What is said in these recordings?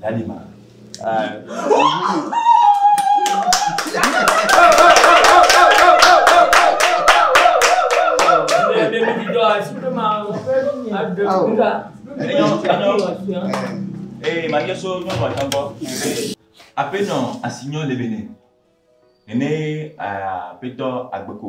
Dadi ma. Ee, ma nye so nyɔnu atɔ gbɔ. Aƒenɔ asi nyɔ le bene. Nene aƒetɔ agbeko.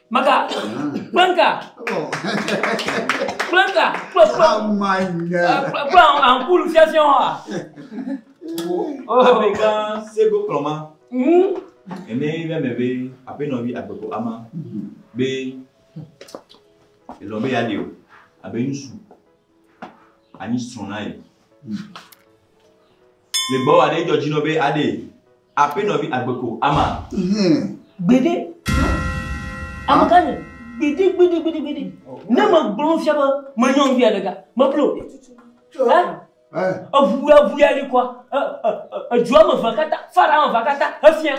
Maka kple ŋka kple ŋka kple kple kple ankulu fiafiã wa. Amegã sego kplɔma. Ene yi ɖe me be aƒenɔvi agbeko ama be elɔ be yeaɖe o abe ŋutsu anyi srɔ̃ na ye. Le gbɔwɔ aɖe dzɔ dzi nɔ be aɖee. Aƒenɔ vi agbe ko ama. Hum. Gbeɖe. Amegã nye. Gbeɖe gbeɖe gbeɖe gbeɖe. Ne me gblɔ nu fia be me nyɔ ŋvi aɖe ga. Me blo. Ɛ. Ɛ. Eʋu ya ʋu ya li kɔa. Ɛ ɛ ɛ edzo ame ʋe kata fa ɖa ame ʋe kata efia.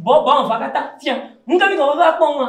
Bɔ bɔ ame ʋe kata fia. Ŋka mi kɔ be va kpɔ ŋua.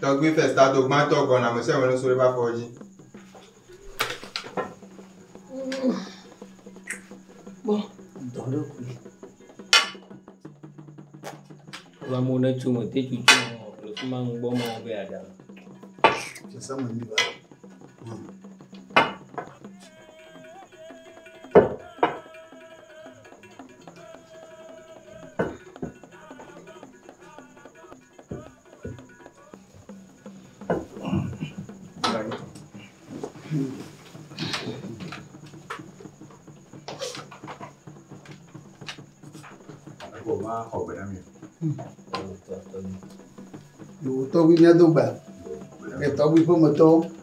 Tɔgbi ƒe stado gbãtɔ gbɔna me sɛwɛ nusu ɖe bafɔ dzi. Bɔ. Dɔ ɖe kui. Wa mo ne tso me te tso tso me le fi ma ŋgbɔ ma wo be ada. Tso sa me ni ba. Tɔgbi mía do gba. Tɔgbi ƒe me tɔwo.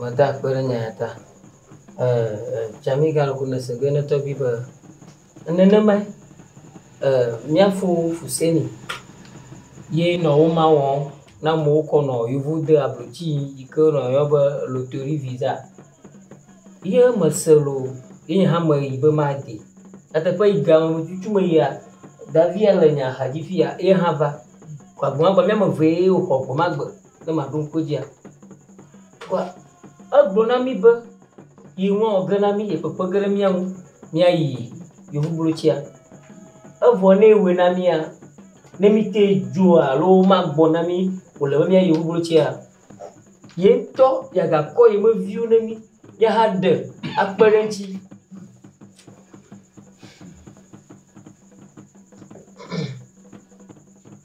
Meda akpe ɖe nya ya ta. Jamaica lɔ ko ne se be ne tɔgbi be nenema mía fo fu seni ye nɔ wo ma wɔm na mo kɔ nɔ yovo de ablo ci yi ke nɔ yɔ be lotori viza. Ye me se lo ye nye hã me yi be ma de. Ete ƒe yi ga ŋu cucu me yia davia le nya ha dzi fia ye hã va. Kɔ agbo ma gba mía me ve ye wo xɔ gbo ma gbe. ne maɖo ŋku edzia? Vɔa egblɔ na mí be yi ŋu awɔ ge na mí, yi kpekpe ge ɖe mía ŋu míayi yevublotia. Evɔ ne ewɔe na mía, ne míte dzoa alo womagbɔ na mí o le be míayi yevublotia, ye ŋutɔ yeagakɔ ye me viwo ne mí míahaɖe akpe ɖe eŋuti.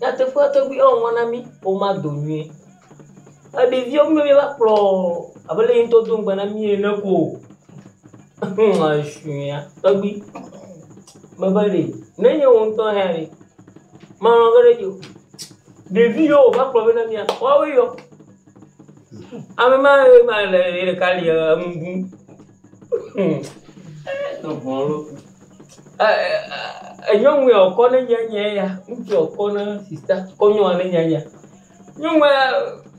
Nyateƒea tɔgbi ɔn ŋɔ na mí ɔ ma do nyuie. Eɖeviɔ mí mí va kplɔ abe le yi ŋtɔ do ŋgba na mí ene ko. Eshuia tɔgbi me be ɖe ne nye wo ŋtɔ hɛa ɖe ma lɔ ge ɖe dzi o. Ɖevi yɔ o va kplɔ be na mía woawoe yɔ. Ame ma ye ma le ye ɖeka li enu ɖum. enyɔnu ya ɔkɔ ne nye nye ya ŋutsu ya ɔkɔ ne sista kɔ nyɔnua ne nye ya nyɔnua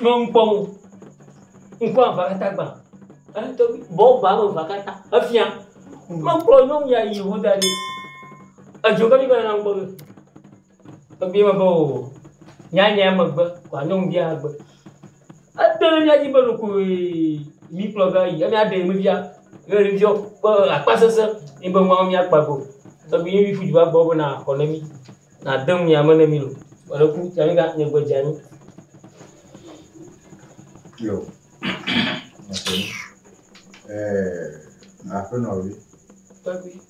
me ŋkpɔ mo ŋkpɔ aʋa kata gba eŋtɔ bi bɔ ba me va kata efia mekplɔ nyɔnu ya yi ho da ɖi edzo ke mi va nana ŋkpɔ me. Ebia be oo, nyanya megbe kɔ anyo ŋu bia gbe. Ete ɖe mía dzi be ɖeko mí kplɔ va yi, ena ɖe me bia ye ɖe bia be akpa sese ye be nua mía kpa go. Tɔgbi ye mí ƒu du va gbɔ be na xɔ ne mí, na de ŋu ya me ne mí lo. Wɔ ɖe ku ta mí ga nye gbe dza mí. Yo. Aƒenɔ vi. Tɔgbi.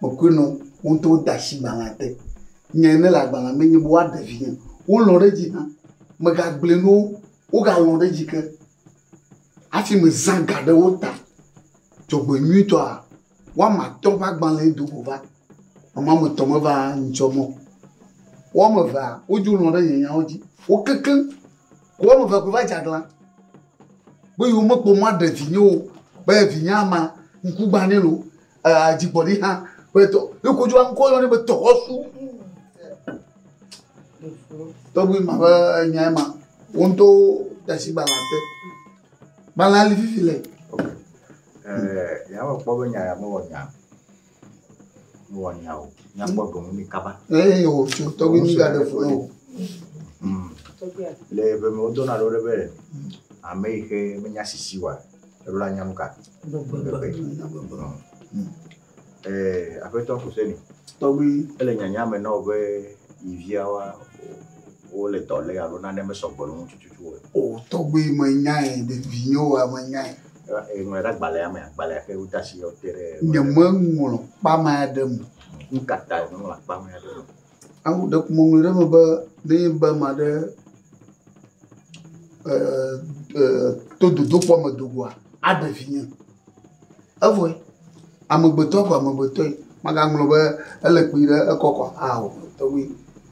mekɔe nɔ wo ŋutɔ wode asi gbalẽa te. Nya yi nele agbalẽa me enye be woaɖe vinye. Wolɔ̃ ɖe edzi hã. Megagblɔe na wo, wogalɔ̃ ɖe edzi ke hafi mezã ga ɖe wo ta. Dzɔgbenyuitɔa, woame atɔ̃ ƒe agbalẽe do go va. Ame woame etɔ̃ meva nyitsɔ mɔ o. Woame evea, wodzo lɔ̃ ɖe nye nyawo dzi. Wo kekeŋ ko woame evea koe va dze aglã be yewomekpɔ mɔ aɖe vinye o be vinyea ma, ŋkugbãnɛ loo dzigbɔɖi hã ƒe dɔ ne kodzo aŋkɔ yɔ ne be dɔwɔsu tɔgbi ma ƒe nyae ma wo ŋutɔ tasi gbalẽ te gbalẽ ali fifi le. yàwɔ kpɔ be nya ya mewɔ nya mewɔ nya o nya kpɔ dɔn mi kaba. ee o tso tɔgbi mi ga de fo ne o. le ebe me wodɔna ɖo ɖe be ame yi xe menya sisi wa. Eɖo la nyam ka? Gbegbe. Ee, Aƒetɔ Kuseni. Tɔgbi. Ele nyanya me na wò be yi via wa wole dɔ lé alo nane mesɔ gbɔ le ŋu tututu o. O, tɔgbi, menyae, ɖe vinyewoa menyae. Eŋlɔe ɖe agbalẽa mea? Agbalẽa xe wode asi yɔ te ɖe. Nyemeŋlɔ kpamea ɖe me. Nu ka tae mèŋlɔ kpamea ɖe me o? Awu ɖe ƒo ŋɔŋlɔ ɖe eme be ne enye be ame aɖe e e to dodokpɔ me do goa aɖe vinye. Evɔe amegbetɔ ko amegbetɔe magaŋlɔ be ele kpuie ɖe ekɔ kɔ aa o tɔgbi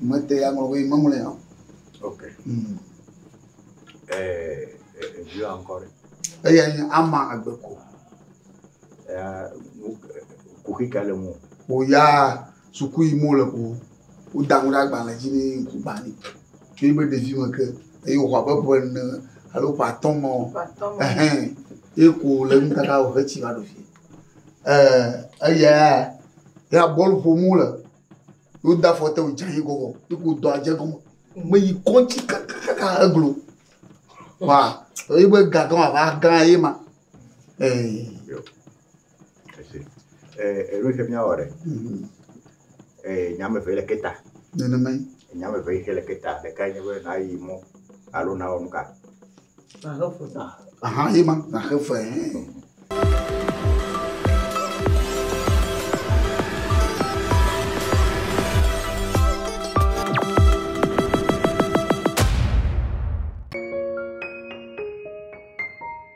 mete ya ŋlɔ be meŋlɔe ya o. Ok. Mm. E e eviwa ŋkɔ ɖe. Eya nye ama agbe ko. Ya kuxi ka le mo. O ya Suku yim wole ko woda nu ɖe agbalẽ dzi ne ye ŋku gbã nɛ. Tso eƒe ɖevime ke eye wòxɔ abe ƒe ene alo ƒe atɔ̃ me o. Ehẽ, ye ko wòle nu kaka wòhe tsi va ɖo fie. Ee, eya ya bɔl ƒom wole. Ye wode afɔ te wòdze anyi gɔgɔ ye ko wòdɔ adze gɔme. Meyi kɔŋtsi kakakaka eglo. Wa, eƒe gagã wòava gã ye ma. Ee. Eɖo xe mía wɔ ɖe. Nya me ve le ke ta. Nenemae. Nya me ve xe le ke ta. Ɖeka nye be na yi mɔ alo na wɔ nu ka. Na xe fe. Aha ye ma na xe fe.